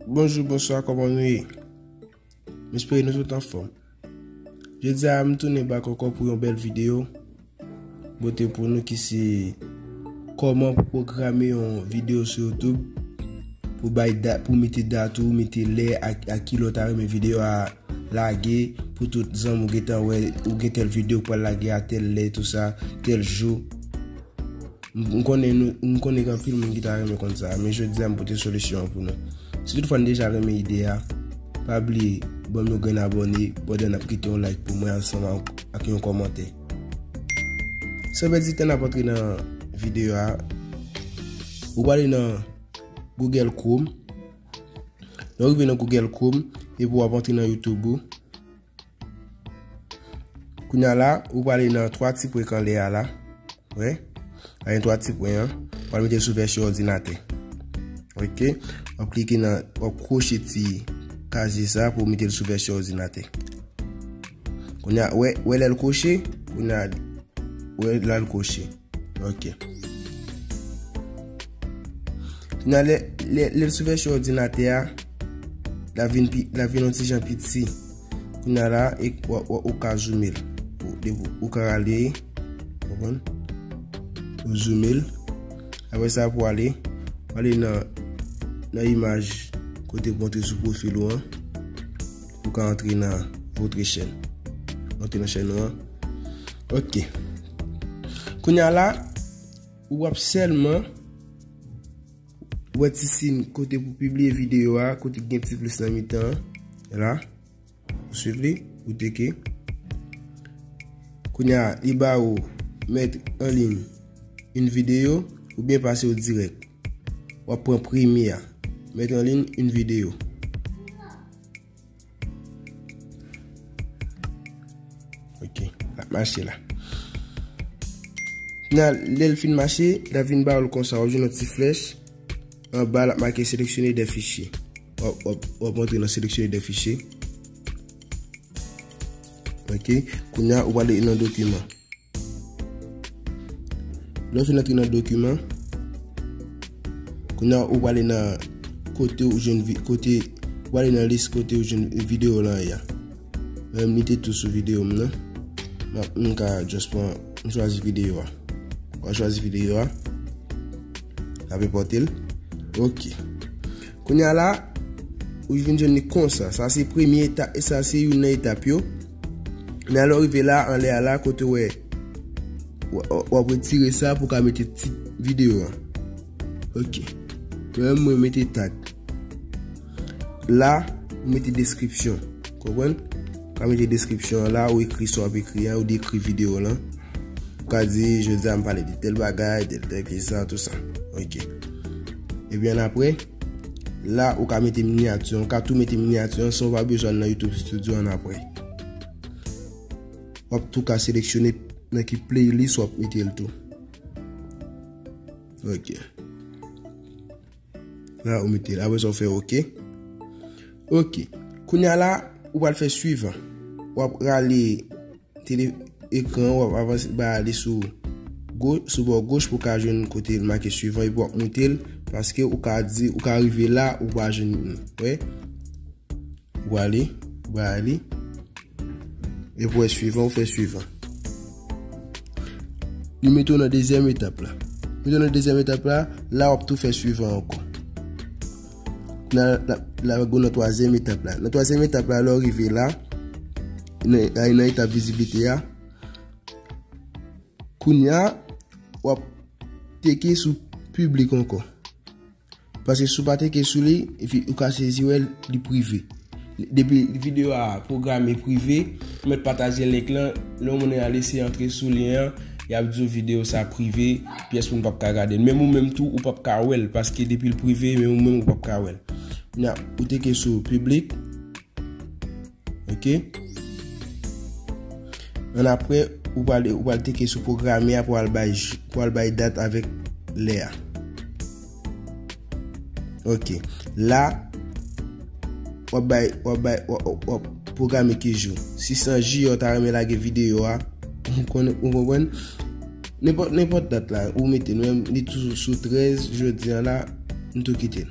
Bonjou, bonswa, kòman nou ye? M espere nou tout anfòm. Jodi a m tounen bak ankò pou yon bèl videyo. Mwen te pou nou ki se kòman pou pwograme yon videyo sou YouTube pou bay dat, pou mete dat ou, mete lè ak ki lè ou ta renmen videyo a lage pou tout zanmi ou gentan wè ou gen tèl videyo pou al lage a tèl lè tou sa, tèl jou. M konnen nou, m konnen gen anpil moun ki ta renmen konn sa, men jodi a m pote solisyon an pou nou. Si tout fwa n deja renmen ide a, pa bliye banm yon grenn abòne pandan nap kite yon like pou mwen ansanm ak yon kòmantè. San pèdi tan nap antre nan videyo a, ou pwale nan Google Chrome, lè ou rive nan Google Chrome epi wap antre nan YouTube ou, Kounya la, ou prale nan 3 ti pwen kanlè a la. Wè? A gen 3 ti pwen an. Ou prale mete sou vèsyon òdinatè. Ok? Ou ap klike nan, ou ap kwoche ti kazye sa pou ou mete l sou vèsyon òdinatè. Kounya, wè, wè lè l kwoche? Kounya, wè lè l kwoche. Ok. Nan lè lè l sou vèsyon òdinatè a, la vin pi la vin yon ti jan pi ti. Kounya la e ou ka zoumel. Ou ka rale. Konprann? Ou zoumel. Apre sa pou ale, ale nan nan imaj kote pou antre sou profil ou an. Ou ka antre nan votre chaîne. Antre nan chaîne ou an. Ok. Kounya la, ou ap sèlman wè ti sin kote pou pibliye videyo a, kote gen ti plis nan mitan an. La, ou swiv li, ou teke. Kounya, li ba ou met en ligne une vidéo ou bien pase ou direct. Ou ap pran premye a. Met en ligne une vidéo. Ok, la mache la. Nan lè l fin mache, la vin ba ou konsa, ou jwenn yon ti flèch, an ba la make seleksyone de fichye. Ou ap montre nan seleksyone de fichye. Ok, kounya ou ale nan dokiman. Lè ou fin antre nan dokiman, kounya ou ale nan kote ou jwenn kote ou ale nan lis kote ou jwenn video lan ya. Mwen li te tou sou video m nan. Mwen ka just pran, mwen chwazi video a. Mwen chwazi video a. Ape pote l. Ok. Kounye a la, ou vin jwenn li konsa. Sa se premye etap, e sa se youn nan etap yo. Men alò rive la, anlè a la, kote wè, w ap retire sa pou ka mete tit videyo a. Ok. Mwen mwen mete tag. La, mwen mete deskripsyon. Konpwen? Ka mete deskripsyon la, ou ekri sa w ap ekri a, ou dekri videyo la. Ou ka di, jodi a m pale de tèl bagay, de tèl ki sa, tout sa. Ok. Epi an apre, la ou ka mete minyati an. Ou ka tou mete minyati an san ou pa bezwen nan YouTube Studio an apre. W ap tou ka seleksyone nan ki playlist w ap mete l tou. Ok. La ou mete la, apre sa ou fè ok. Ok, kounya la ou pral fè suivan. Ou ap rale tele ekran ou ap avanse ba ale sou sou bò goch pou ka jwenn kote l make suivan epi wap moute l paske ou ka di ou ka rive la ou pa jwenn li. Ou wè? Wale, Wiley. E pou è suivan ou fè suivan. Li mete ou nan dezyèm etap la. Mete ou nan dezyèm etap la, la wap tou fè suivan ankon. La wap gou nan twazyèm etap la. Nan twazyèm etap la, lò rive la, a yon etap viziblite a, koun ya wap teke sou publik ankon. Paske si w pa teke sou li, epi ou ka sezi wè l, li prive. Depi videyo a pwograme prive, ou mèt pataje link lan, lè yon moun al eseye antre sou lyen an, y ap di w videyo sa prive, pyès moun p ap ka gade l. Menm ou menm tou, ou p ap ka wè l, paske depi l prive, menm ou menm ou p ap ka wè l. Kounya, ou teke sou piblik. Ok. An apre, ou pral ou pral teke sou programe a pou al bay pou al bay dat avèk lè a. Ok. La wap bay wap bay wap programe ki jou. Si san ji yo ta reme lage video a, ou konnen ou konprann? Nenpòt nenpòt dat la ou mete menm li toujou sou 13 jodi an la, m tou kite l.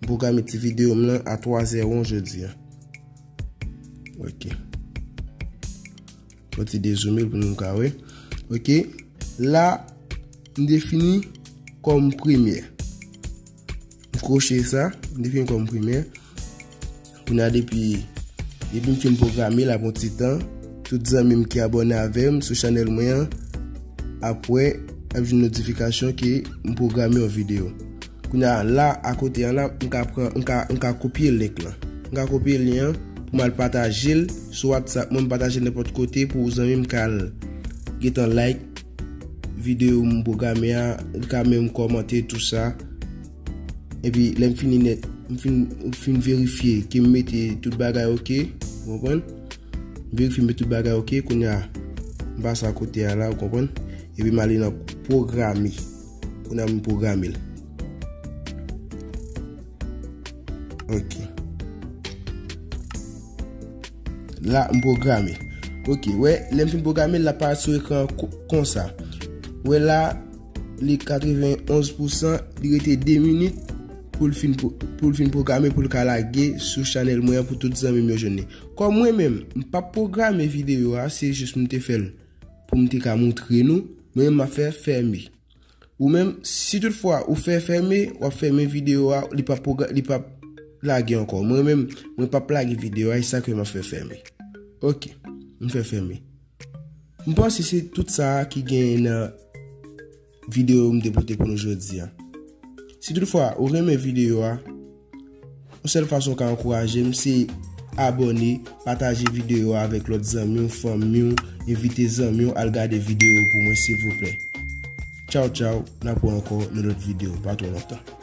M pwograme ti videyo m lan a 3 zè won jodi a. Ok. Fò ti dezoumil pou nou ka we. Ok. La, m defini kòm premye. M kwoche sa, m defini kòm premye. Kounya depi depi m fin pwograme l ap yon ti tan tout zanmi m ki abòne avè m sou chanèl mwen an ap wè ap jwenn notifikasyon ke m pwograme yon videyo kounya la akote an la m ka pran m ka kopye link lan m ka kopye lyen an pou m al pataje l sou whatsapp mwen m pataje l nenpòt kote pou zanmi m ka al gentan like videyo m pwograme a li ka menm kòmante tou sa. Epi lè m fini nèt, m fin, m fin verifye ke m mete tout bagay ok, ou konprann? M verifye m mete tout bagay ok, kounye a, m pase a kote a la, ou konprann? Epi m ale nan pwograme. Kounye a m pwograme l. Ok. La, m pwograme. Ok, wè, lè m fin pwograme l, la pa sou ekran konsa. Wè la, Li 91 pousan, li rete 2 minit pou l fin pou l fin pwograme pou l ka lage sou chanèl mwen an pou tout zanmi m yo jwenn li. Kòm mwen menm, m pap pwograme videyo a, se jis m te fè l pou m te ka moutre nou, mwen menm m ap fè fème. Ou menm, si tout fwa ou fè fème, w ap fème videyo a, li pap pwogra li pap lage ankò. Mwen menm, mwen pap lage videyo a, e sa k fè m ap fè fème. Ok, m fè fème. M panse se tout sa a ki genyen nan videyo m te pote pou nou jodi a. Si tout fwa ou renmen videyo a, yon sèl fason ou ka ankouraje m se abone, pataje videyo a avèk lòt zanmi w, fanmi w, envite zanmi w al gade videyo pou mwen silvouplè. Tchaw tchaw, n ap wè ankò nan lòt videyo pa twò lontan.